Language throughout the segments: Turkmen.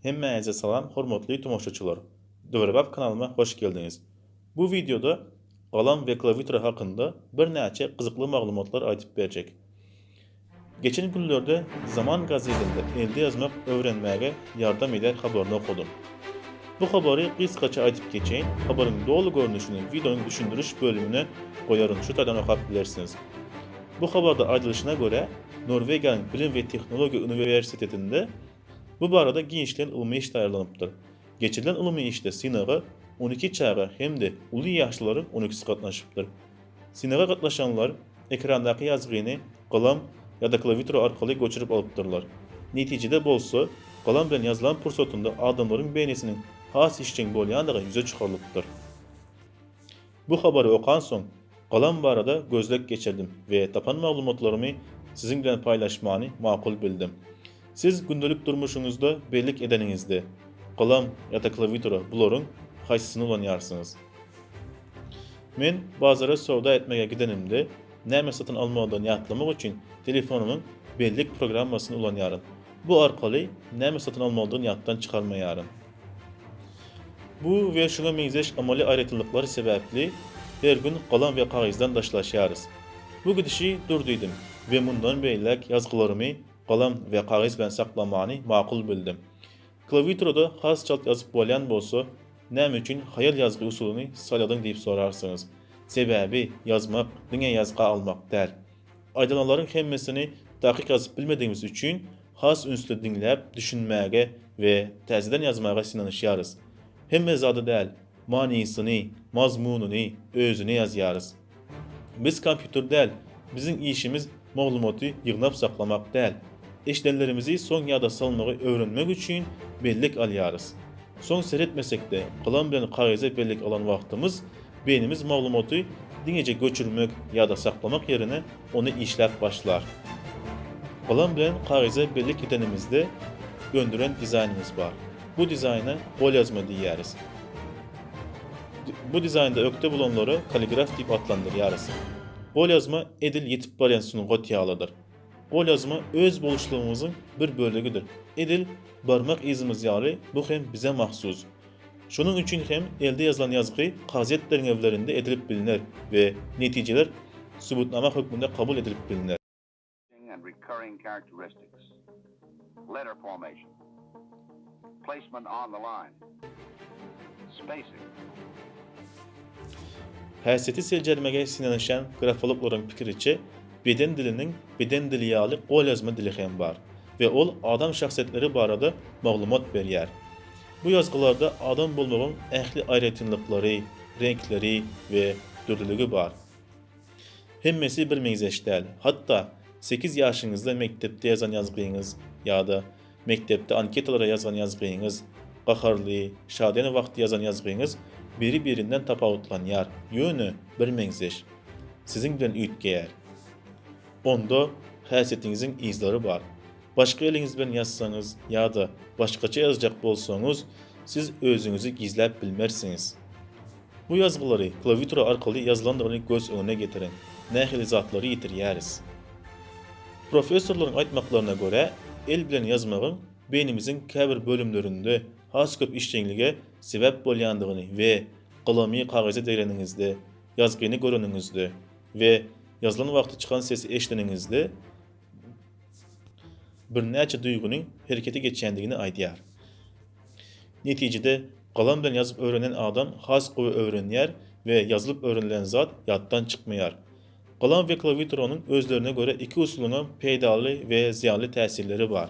Hemmäňize salam hormatly tomaşaçylar! Döwrebap kanalyma hoş geldiňiz! Bu wideoda galam we klawiatura hakynda birnäçe gyzykly maglumatlar aýdyp berjek. Geçen günlerde Zaman gazetinde elde ýazmak öwrenmäge ýardam edýän habaryny okadym. Bu habary gysgaça aýdyp geçeýin, habaryň doly görnüşini wideonyň düşündiriş bölümine goýaryn şu taýdan okap bilersiňiz. Bu habarda aýdylyşyna görä, Norwegiýanyň Bilim we tehnologiýa uniwersitetinde bu barada giňişleýin ylmy iş taýýarlanypdyr. Geçirilen ylmy işde synaga on iki çaga hem-de uly ýaşlularyň on ikisi gatnaşypdyr. Synaga gatnaşanlar ekrandaky ýazgyny galam ýa-da klawiatura arkaly göçürip alypdyrlar. Netijede bolsa, galam bilen ýazylan pursatynda adamlaryň beýnisiniň has işjeň bolýandygy ýüze çykarylypdyr. Bu habary okansoň, galam barada gözleg geçirdim we tapan maglumatlarymy siziň bilen paýlaşmany makul bildim. Siz gündelik durmuşyňyzda bellik edeniňizde, galam ýa-da klawiatura bularyň haýsysyny ulanýarsyňyz? Men bazara söwda etmäge gidenimde, näme satyn almalydygyny ýatlamak üçin telefonymyň bellik programmasyny ulanýaryn. Bu arkaly näme satyn almalydygyny ýatdan çykarmaýaryn. Bu we şuňa meňzeş amaly aýratynlyklar sebäpli her gün galam we kagyzdan daşlaşýarys. Bu gidişi dur diýdim we mundan beýläk ýazgylarymy Galam we kagyz bilen saklamany makul bildim. Klawiaturada has çalt ýazyp bolýan bolsa, näme üçin haýal ýazgy usulyny saýladyň diýip sorarsyňyz. Sebäbi ýazmak diňe ýazga almak däl. Aýdylanlaryň hemmesini takyk ýazyp bilmedigimiz üçin has ünsli diňläp düşünmäge we täzeden ýazmaga synanyşýarys. Hemme zady däl, manysyny, mazmunyny, özüni ýazýarys. Biz kompýuter däl. Biziň işimiz maglumaty ýygnap saklamak däl. Eşidenlerimizi soň ýada salmagy öwrenmek üçin bellik alýarys. Soň seretmesek-de, galam bilen kagyza bellik alan wagtymyz, beýnimiz maglumaty diňeje göçürmek, ýada saklamak ýerine ony işläp başlar. Galam bilen kagyza bellik edenimizde öndüren dizaýnymyz bar. Bu dizaýna golýazma diýýäris. Bu dizaýnda ökde bolanlary kaligraf diýip atlandyrýarys. Golýazma edil ýetip barýan sungat ýalydyr. Golýazma öz boluşlygymyzyň bir bölegidir. Edil barmak yzymyz ýaly bu hem bize mahsus. Şonuň üçin hem elde ýazylan ýazgy kazyýet derňewlerinde edilip bilner we netijeler subutnama hökmünde kabul edilip bilner. and recurring characteristics, letter formation, placement on the line, spacing. Häsiýeti seljermege synanyşýan grafologlaryň pikiriçe, beden diliniň beden dili ýaly golýazma dili hem bar we ol adam şahsyýetleri barada maglumat berýär. Bu ýazgylarda adam bolmagyň ähli aýratynlyklary, reňkleri we dürlüligi bar. Hemmesi bir meňzeş däl. Hatda, sekiz ýaşyňyzda mekdepde ýazan ýazgyňyz ýa-da mekdepde anketalara ýazgan ýazgyňyz, gaharly, şadyýan wagty ýazan ýazgyňyz biri-birinden tapawutlanýar, ýöne bir meňzeş. Siziň bilen üýtgeýär. Onda häsiýetiňiziň yzlary bar. Başga eliňiz bilen ýazsaňyz ýa-da başgaça ýazjak bolsaňyz, siz özüňizi gizläp bilmersiňiz. Bu ýazgylary klawiatura arkaly ýazylandygyny göz öňüne getiriň, nähili zatlary ýitirýäris. Professorlaryň aýtmaklaryna görä, el bilen ýazmagyň beýnimiziň käbir bölümlerinde has köp işjeňlige sebäp bolýandygyny we galamy kagyza degreniňizde, ýazgyny göreniňizde we ýazylan wagty çykan sesi eşideniňizde, birnäçe duýgynyň herekete geçýändigini aýdýar. Netijede, galam bilen ýazyp öwrenen adam has gowy öwrenýär we ýazylyp öwrenilen zat ýatdan çykmaýar. Galam we klawiaturanyň özlerine görä iki usulyňam peýdaly we zyýanly täsirleri bar.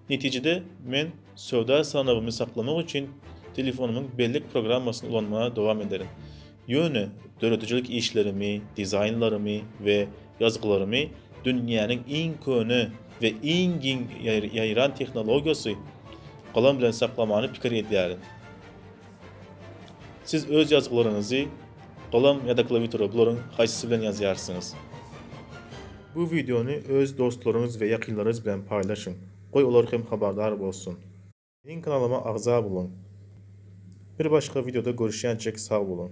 Netijede, men söwda sanawymy saklamak üçin telefonymyň bellek programmasyny ulanmaga dowam ederin. Ýöne döredijilik işlerimi, dizaýnlarymy we ýazgylarymy dünýäniň iň köne we iň giň ýaýran tehnologiýasy galam bilen saklamany pikir edýärin. Siz öz ýazgylaryňyzy galam ýa-da klawiatura bularyň haýsysy bilen ýazýarsyňyz? Bu wideony öz dostlaryňyz we ýakynlaryňyz bilen paýlaşyň, goý olar hem habardar bolsun. Meniň kanalyma agza boluň. Bir başga wideoda görüşýänçik sag boluň.